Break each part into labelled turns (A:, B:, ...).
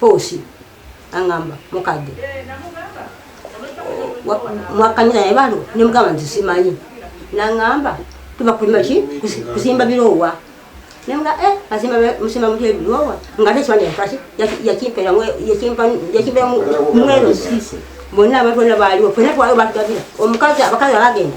A: Poosi angamba mukadde mwakanya naye balo nemugamba nti simanyi nangamba tuba kulima ki kuzimba biroowa nemga eh azimba musima mutye biroowa nga ate ekiwanja yakaki yakimpera yakimpa mwero sisi bonna abantu bona baaliwo fena twaliwo batugabira omukazi abakazi abagenda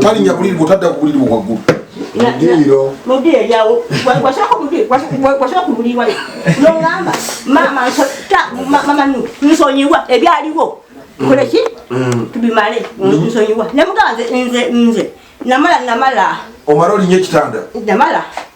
B: talinya buliri bwotadda ku buliri bwaggulu
A: nogamba mama nsonyiwa ebyaliwo nkoleki mm. tubimale nsonyiwa nemugamba nze nze namala namala omala olinye
B: ekitanda namala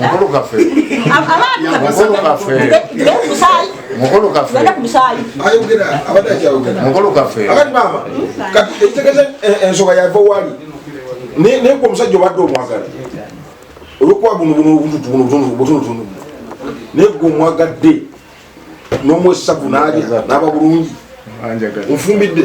C: mukulu kaffe mukulu kaffe mukulu
B: kaffe ensonga yava wali naye gwe omusajja obadde omwagala olwokuba buno buno obutunutunu naye gwe omwagadde n'omwesavu nalya naba bulungi nfumbidde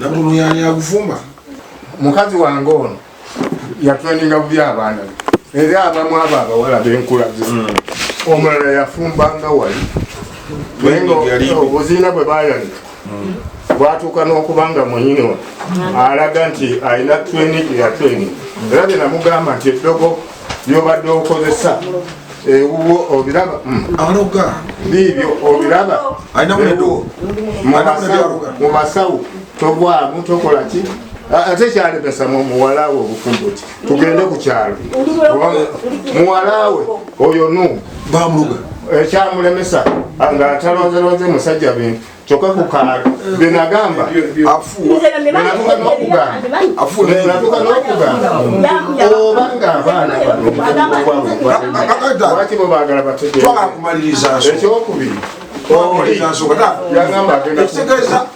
B: nabuluyani agufumba mukazi
C: wange ono yatwendinga bubi abaana be era abamu abo abawala benkulaze hmm. omulala yafumbanga wali naye nga obuziina bwe bayanika bwatuuka n'okuba nga mwenyini we alaga nti alina training ya training era bye namugamba nti eddogo lyobadde okozesa ewuwo obiraba mm. aloga
B: biibyo
C: obiraba mu basawo togwamu tokola ki ate kyalemesa mu muwala we obufumbo ki tugende ku kyalo muwalawe oyo nu bamuga
B: ekyamulemesa
C: eh, nga atalonzelonze musajja bintu kyoka kukala benagamba afuuwenatuka nokugamba oba nga abaana banolwaki bo bagala bategeekyokubiria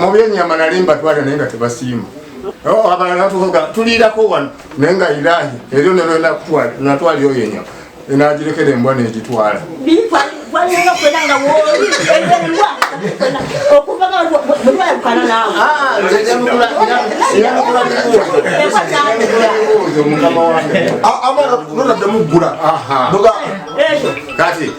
B: mu
C: byenyama nali mbatwala naye nga tebasiima oh, abalala tuvuga tuliirako wano naye nga irahi eryo nelwenatwala oyo enyama enagirekera embwa negitwala mukama
B: wange amara nonadde muggula kati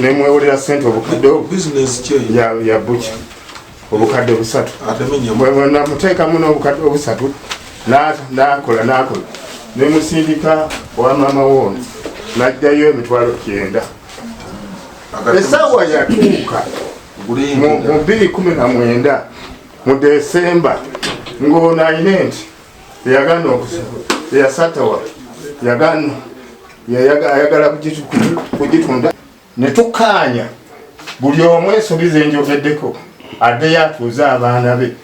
C: nemwewolera sente obukadde ya buki obukadde busatu namuteekamu n'obukadde obusatu nakola nakola nemusindika wa maama woono najjayo emitwalo kyenda esawa yatuuka mu 219 mu desemba ng'ono ayina enti yagana yasatawa yagana ayagala kugitunda ne tukkaanya buli omu ensobi ze njogeddeko addeyo atuuze abaana be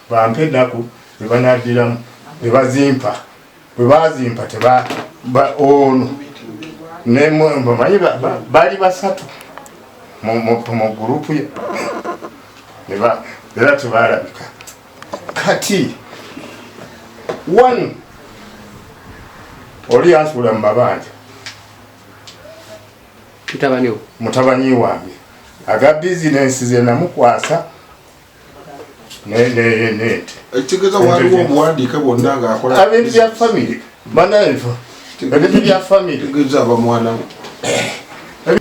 C: bampe ennaku be banaddiramu be bazimpa bwe bazimpa teba ono nemanyi bali basatu mu gurupu ye era tebalabika kati one oli yansuula mu mabanja mutabani wange aga bizinensi ze namukwasa nente ebintu
B: bya famiry
C: banaye nfa ebintu bya famire tegeza aba mwana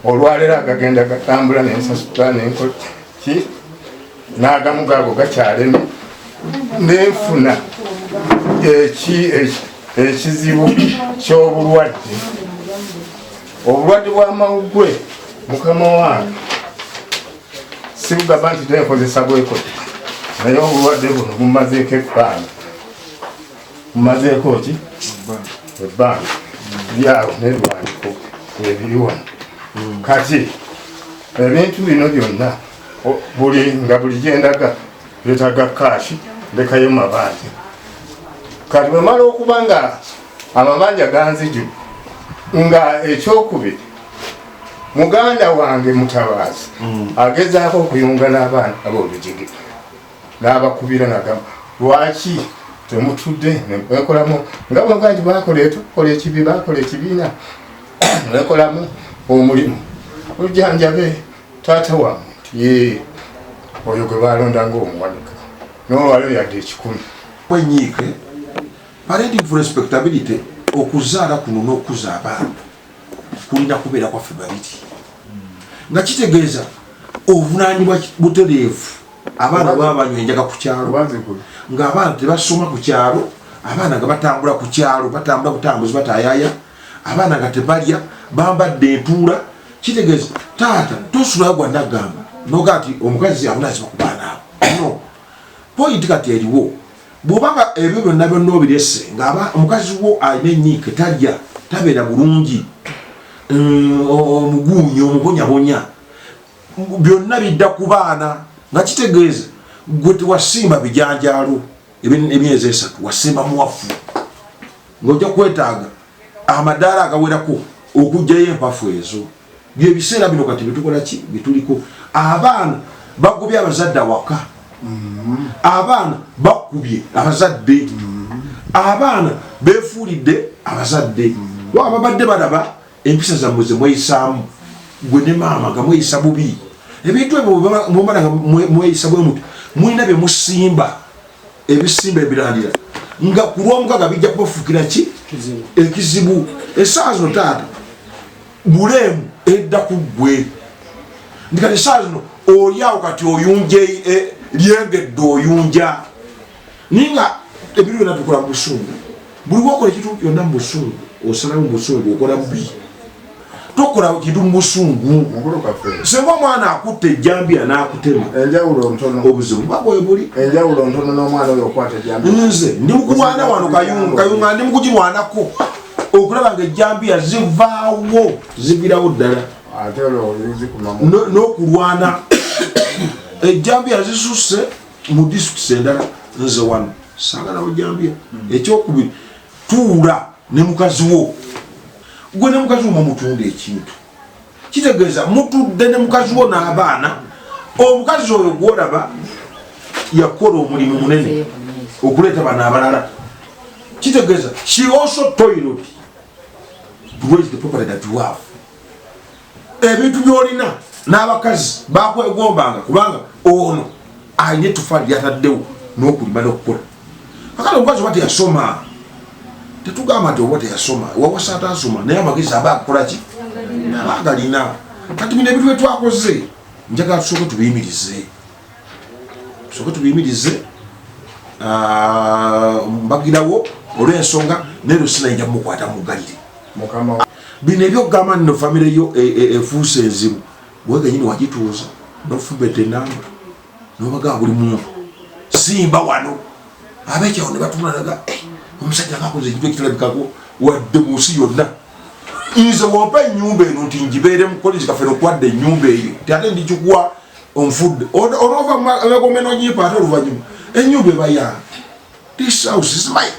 B: olwaleero
C: agagenda gatambula nensasula nenkol ki n'agamu gaago gakyaleme nenfuna ekizibu ky'obulwadde obulwadde bw'amawugwe mukama wange sibugamba nti tenkozesa bwekoti naye obulwadde buno bumazeeko ebbanga mumazeeko ki ebbanga byawo nebiwandiko ebiri wano hmm. kati ebintu bino byonna buli nga buli gyendaga byetaga kaashi ndekayo mabanja kati bwemala okuba nga amabanja ganziju nga ekyokubiri muganda wange mutabaazi hmm. agezaako okuyunga n'abaana ab'olujigi n'abakubira nagamba lwaki temutudde nemwekolamu nga bwaba nti bakola etukola ekibi bakola ekibiina mwekolamu omulimu olujanjabe taata wamwe ye oyo gwe balonda ngaomuwanika nolwaliro yadde ekikumi kwenyiike
B: parenting for respectability okuzaala kuno n'okukuza abaana kulina kubeera kwaffe babiri nga kitegeeza obuvunanyibwa butereevu abaana baba banywa enjaga ku kyalo ng'abaana tebasoma ku kyalo abaana nga batambula ku kyalo batambula butambuzi batayaya abaana nga tebalya bambadde entuula kitegeeza taata tosulayo gwanagamba noga nti omukazi abunaziba ku baana abo no poyinti kati eriwo bwobanga ebyo byonna byonna obirese ngaaba omukazi wo alina enyiike talya tabeera bulungi mm, omuguunyi omubonyabonya byonna bidda ku baana nga kitegeeza gwe tewasimba bijanjaalo emyezi esatu wasimba muwafu ngaojja kwetaaga amadaala agawerako okugjayo empafu ezo byebiseera bino kati bitukola ki bituliko abaana bagobye abazadde awaka mm-hmm. abaana bakubye abazadde mm-hmm. abaana befuulidde abazadde mm-hmm. wababadde balaba empisa zammwe zemweyisaamu gwe ne maama nga mweyisa bubi ebintu ebyo mwemala nga mweyisa bwe muti mulina bye musimba ebisimba ebirandira nga ku lwomukaga bijja kubafuukira ki ekizibu esaawa zino taata buleemu edda ku ggwe ndikati esaawa zino olyawo kati oyunja e, lyengedde oyunja naye nga ebintu byona tukola mubusungu buli wakola ekintu yonna mubusungu osalamu mubusungu okola bubi tokola kintu mubusungu singa omwana akutta ejjambiya nakutema
C: obuzibu bwebuli nze ndi mukulwana
B: wano kayunga kayunga ndi mukugirwanako okulaba nga ejjambiya zivaawo zivirawo ddala
C: n'okulwana
B: ejjambiya zisusse mu districts endala nze wano sagala ojambya hmm. ekyokubiri tuula ne mukazi wo gwe ne mukazi wo mumutunda ekintu kitegeeza mutudde ne mukazi wo n'abaana omukazi oyo gwolaba yakukola omulimu munene okuleeta bano abalala kitegeeza she also toiled to raise the property that you have ebintu byolina n'abakazi bakwegombanga kubanga ono alina etufaali lyataddewo n'okulima n'okukola akale omukazi oba teyasoma tetugamba nti oba teyasoma wawasa atasoma naye amagezi aba akukolaki aba agalina kati bino ebintu byetwakoze njagala tusooke tubiyimirize tusooke tubiyimirize ah, mbagirawo olw'ensonga naye lwesinayinja mukwata mugalire bino ebyokugamba nno famire yo e, e, efuuse enzibu wegenyini wagituuza nofubeta enamba nobagaa buli muntu simba wano abekyawo nebatunalaga eh, omusajja ngakoze ekintu ekitalabikako wadde munsi yonna nze wompa enyumba eno nti njibeere mukolezi kaffe nokwadda enyumba eyo ti ate ndikikuwa onfudde onova magombe nonyipa ate oluvanyuma enyumba ebayanga this house is mine